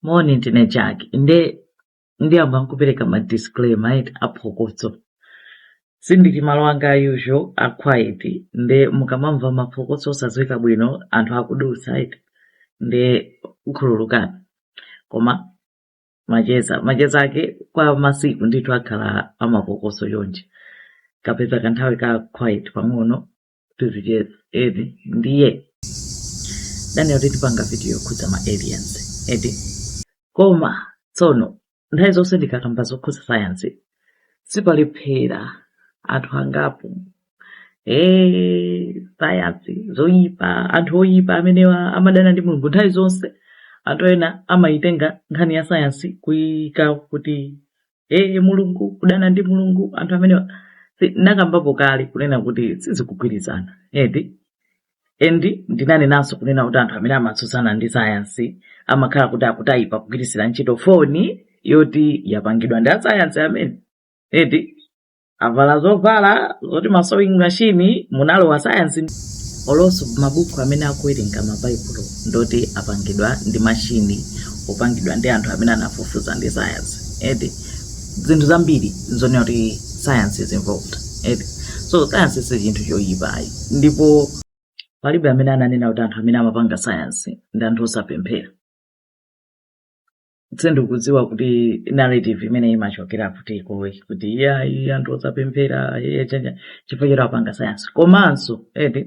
moni ndine jack nde ndiyamba nkupereka ma disclaimer eti aphokoso sindili malo anga a usual a quiet nde mukamamva maphokoso osadziwika bwino anthu akudutsa eti nde khululukani koma macheza macheza ake kwa masiku ndithu akhala amaphokoso chonchi kapeza kanthawi ka quiet pang'ono tizicheza eti ndiye ndaganiza kuti ndipanga video yokhudza ma aliens eti koma tsono nthawi zonse ndikakamba zokhudza sayansi sipalephera anthu angapo ee sayansi zoyipa anthu oyipa amenewa amadana ndi mulungu nthawi zonse anthu ena amayitenga nkhani ya sayansi kuyika kuti ee mulungu kudana ndi mulungu anthu amene nakambapo kale kunena kuti sizikugwirizana eti and ndinanenanso kunena kuti anthu amene amatsutsana ndi sayansi amakhala kuti akutayipa kugwiritsira ntchito foni yoti yapangidwa ndi asayansi amene eti avala zovala zoti masewing machine munalowa sayansi olonso mabuku amene akuwerenga mabaibulo ndoti apangidwa ndi mashini opangidwa ndi anthu amene anafufuza ndi sayansi eti zinthu zambiri zonena kuti sayansi is involved eti so sayansi si chinthu choyipa ayi ndipo palibe amene ananena kuti anthu amene amapanga sayansi ndi anthu osapemphera sindikudziwa kuti narrative imeneyi imachokera kuti ikoyi kuti iya iya anthu osapemphera iye chanja chifukwa choti apanga sayansi komanso eti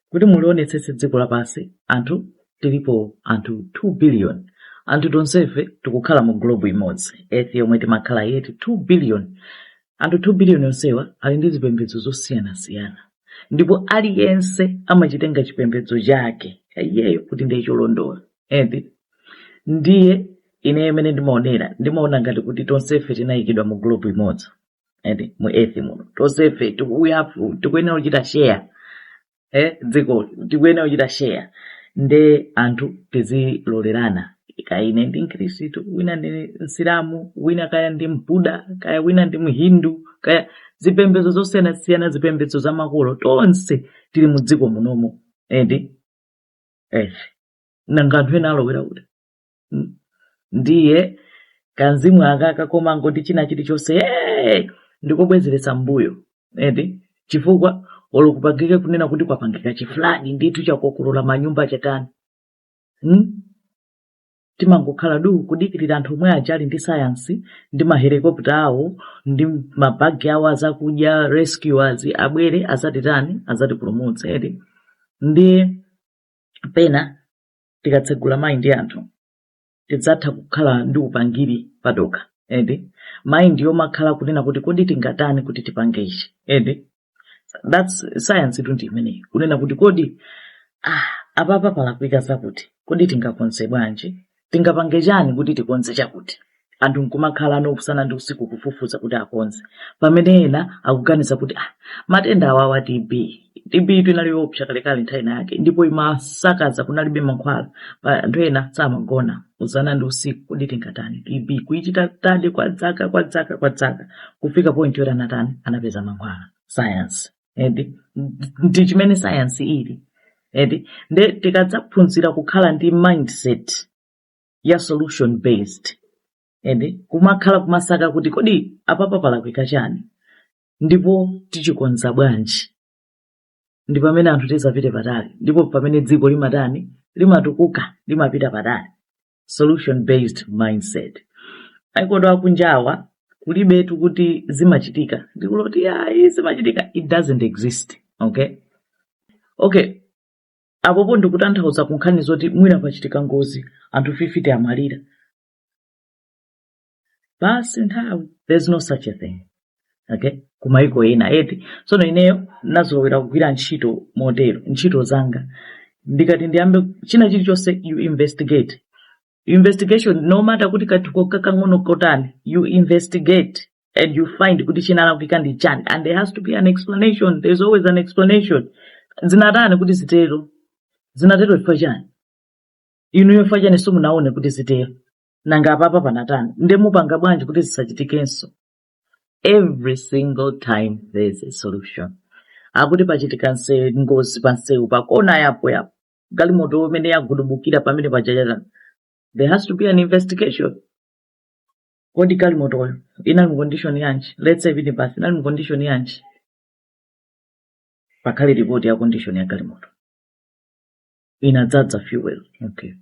kuti mulionetsetse dziko lapansi anthu tilipo anthu 8 billion anthu tonsefe tikukhala mu globe imodzi earth yomwe timakhala eti 8 billion anthu 8 billion onsewa ali ndi zipembedzo zosiyanasiyana ndipo aliyense amachitenga chipembedzo chake iyeyo kuti ndiye cholondola eti ndiye ine mmene ndimaonera ndimaona ngati kuti tonsefe tinayikidwa mu globe imodzi eti mu earth muno tonsefe tikuyafu tikuyenera kuchita share eh dziko tikuyenera kuchita share nde anthu tizilolerana kaya ine ndi mkhristu wina ndi msilamu wina kaya ndi mbuda kaya wina ndi mhindu kaya zipembedzo zosiyanasiyana zipembedzo za makolo tonse tili mu dziko munomo eti eh nanga anthu ena alowera kuti Hmm. ndiye kamzimu akaka komangoti china chilichonse "Hey!" ndikobwezeretsa mbuyo eti chifukwa olo kupangike kunena kuti kwapangika chiflood ndithu chakokolola manyumba chatani hmm? timangokhala du kudikirira anthu omwe aja ali ndi sayansi ndi mahelikopta awo ndi mabagi awo azakudya rescuers abwere azatitani azatipulumutse eti nde pena tikatsegula mind anthu tidzayamba kukhala ndi upangiri padokha eti mind yomakhala kunena kuti kodi tingatani kuti tipange ichi eti that's science itu ndi imeneyi kunena kuti kodi ah, apapa palakwika zakuti kodi tingakonze bwanji tingapange chani kuti tikonze chakuti anthu nkumakhala nako usana ndi usiku kufufuza kuti akonze pamene ena akuganiza kuti ah, matenda awawa tb tb itu inali yoopsa kalekale nthawi yake ndipo imasakaza kunalibe mankhwala pali anthu ena samagona usana ndi usiku kodi tingatani tb kuichita study kwa dzaka kwa dzaka kwa dzaka kufika point yoti anatani anapeza mankhwala science eti ndi chimene science ili eti nde tikadzaphunzira kukhala ndi mindset ya solution based eti kumakhala kumasaka kuti kodi apapa palakwika chani ndipo tichikonza bwanji ndi pamene anthu tizapite patali ndipo pamene dziko limatani limatukuka limapita patali solution based mindset aikodo akunjawa kulibetu kuti zimachitika ndi kuloti ayi zimachitika it doesn't exist okay okay apapo ndikutanthauza kunkhani zoti mwina pachitika ngozi anthu 50 amwalira basi nthawi there's no such a thing okay kumayiko ena eti tsono ineyo nazolowera kugwira ntchito motero ntchito zanga ndikati ndiyambe china chilichonse you investigate investigation no matter kuti kanthuko kakang'ono kotani you investigate and you find kuti chinalakwika ndi chani and there has to be an explanation there's always an explanation zinatani kuti zitero zinatero chifukwa chani inuyo chifukwa chani simunaone kuti zitero nanga apapa panatani nde mupanga bwanji kuti zisachitikenso every single time there is a solution akati pachitika nse ngozi pa msewu pakona yapo yapo galimoto imene yagudubukira pamene pajapaja there has to be an investigation kodi galimotoyo inali mu condition yanji let's say minibasi inali mu condition yanji pakhale ripoti ya condition ya galimoto inadzadza fuel okay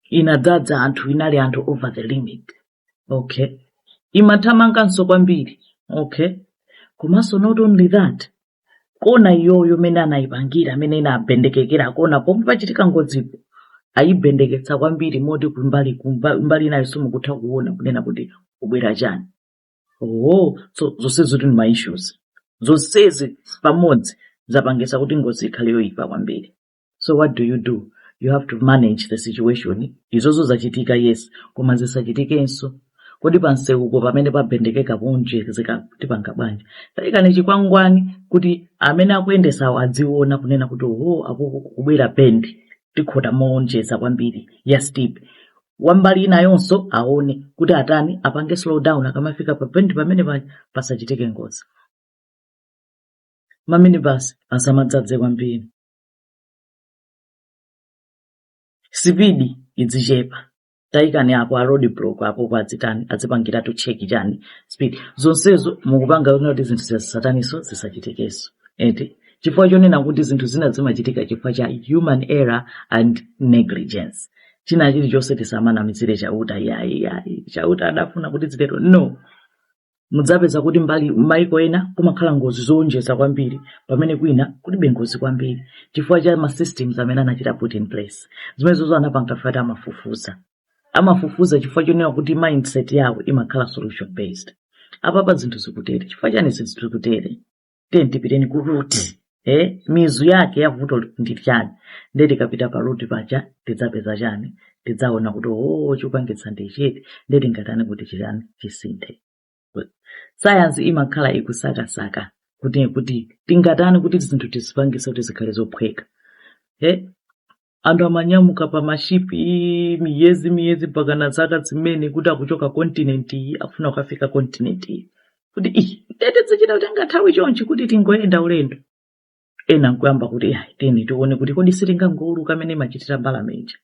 inadzadza anthu inali anthu over the limit okay imathamanganso kwambiri okay komanso not only that kona iyoyo mene anayipangira mmene inabendekekera kona pomwe pachitika ngozipo ayibendeketsa kwambiri moti kumbali kumba- mbali inayo simukutha kuona kunena kuti kubwera chani oh so zonsezi zili ndi ma issues zonsezi pamodzi zapangitsa kuti ngozi ikhale yoyipa kwambiri so what do you do you have to manage the situation izozo zachitika yes koma zisachitikenso kodi panseuko pamene pabendekeka moonjeza tipanga bwanji taikani chikwangwani kuti amene akuyendesawo adziona kunena kuti oho uku kukubwera bendi tikhota moonjeza kwambiri ya steep wambali inayonso aone kuti atani apange slow down akamafika pa bendi pamene pa- pasachitike ngozi maminibasi asamadzadze kwambiri sipidi idzichepa taikani apo a road block apo kuti adzitani adzipangiratu cheki chani speed zonsezo mukupanga kunena kuti zinthu zisataniso zisachitikenso eti chifukwa chonena kuti zinthu zina zimachitika chifukwa cha human error and negligence china chilichonse tisamanamizire chauta yayi yayi chauta adafuna kuti zitero no mudzapeza kuti mbali m'maiko ena kumakhala ngozi zowonjeza kwambiri pamene kwina kulibe ngozi kwambiri chifukwa cha ma systems amene anachita put in place zimenezozo anapanganawo ati amafufuza amafufuza chifukwa chonena kuti mindset yawo imakhala solution based apapa zinthu zikutere chifukwa chani zinthu zikutere tiyeni tipiteni ku root eh, mizu yake ya vuto ndi chani nde tikapita pa root paja tidzapeza chani tidzaona kuti oo chopangitsa ndi chiti nde tingatani kuti chitani chisinthe sayansi imakhala ikusakasaka kuti kuti tingatani kuti zinthu tizipangise kuti zikhale zophweka eh, anthu amanyamuka pa mashipi miyezi miyezi mpaka na zaka zimene kuti akuchoka continent iyi afuna kukafika continent iyi kuti ii nde tidzichita kutenga nthawi chonchi kuti tingoyenda ulendo ena nkuyamba kuti "Ayi, tiyeni tione kuti kodi sitingangowuluka mmene imachitira mbalame ija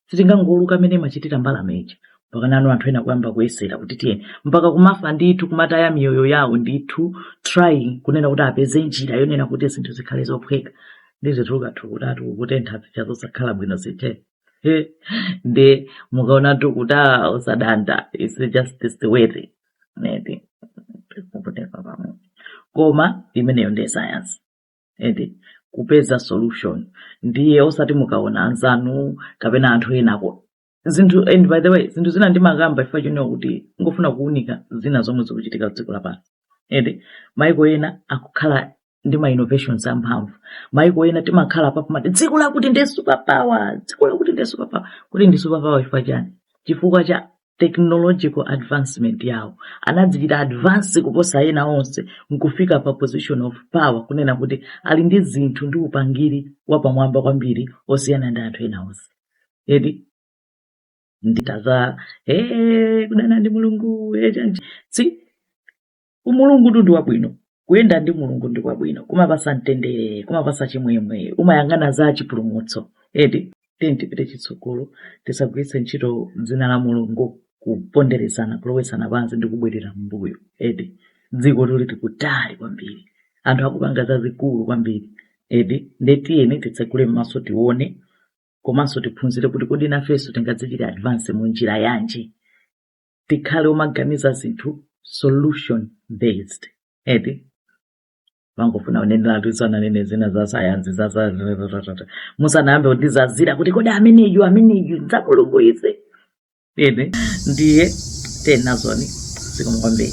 sitingangowuluka mmene imachitira mbalame ija mpakana anthu ena kuyamba kuyesera kuti tiyeni mpaka kumafa ndithu kumataya miyoyo yawo ndithu trying kunena kuti apeze njira yonena kuti zinthu zikhale zophweka ndi zinthu ukathu kutatu kutentha zija zosakhala bwino zite nde mukaonatu kuti ah, usadanda its just this the way thing. Neti. Kupoteka pamwe. koma imeneyo ndiye sayansi eti kupeza solution ndiye osati mukaona anzanu kapena anthu enako zinthu and by the way zinthu zina ndimakamba chifukwa chonena kuti ndikufuna kuunika zina zomwe zikuchitika dziko lapansi ende maiko ena akukhala ndi ma innovations amphamvu maiko ena timakhala pompo timati dziko lakuti ndi super power dziko lakuti ndi super power kuti ndi super power chifukwa chani chifukwa cha technological advancement yawo anadzichita advance kuposa ena onse nkufika pa position of power kunena kuti ali ndi zinthu ndi upangiri wapamwamba kwambiri osiyana ndi anthu ena onse eti nditaza hey, kudana ndi mulungu hey, chanji si umulungu tu ndi wabwino kuyenda ndi mulungu ndi kwabwino kumapasa mtendere kumapasa chimwemwe umayang'ana za chipulumutso eti tiyeni tipite chitsogolo tisagwiritse ntchito dzina la mulungu kuponderezana kulowetsana pansi ndi kubwerera mbuyo eti dziko tuli tikutali kwambiri anthu akupanga zazikulu kwambiri eti ndetiyeni titsegule m'maso tione komanso tiphunzire kuti kodi nafenso tingadzichite advance mu njira yanji tikhale omaganiza zinthu solution based eti timangofuna uneneri woti uzinena zina za sayansi za za- za- za- za- za- za. musanayambe kundizazira kuti kodi ameneyu ameneyu ndi wa mulungu uyu ine ndiye Tenazoni zikomo kwambiri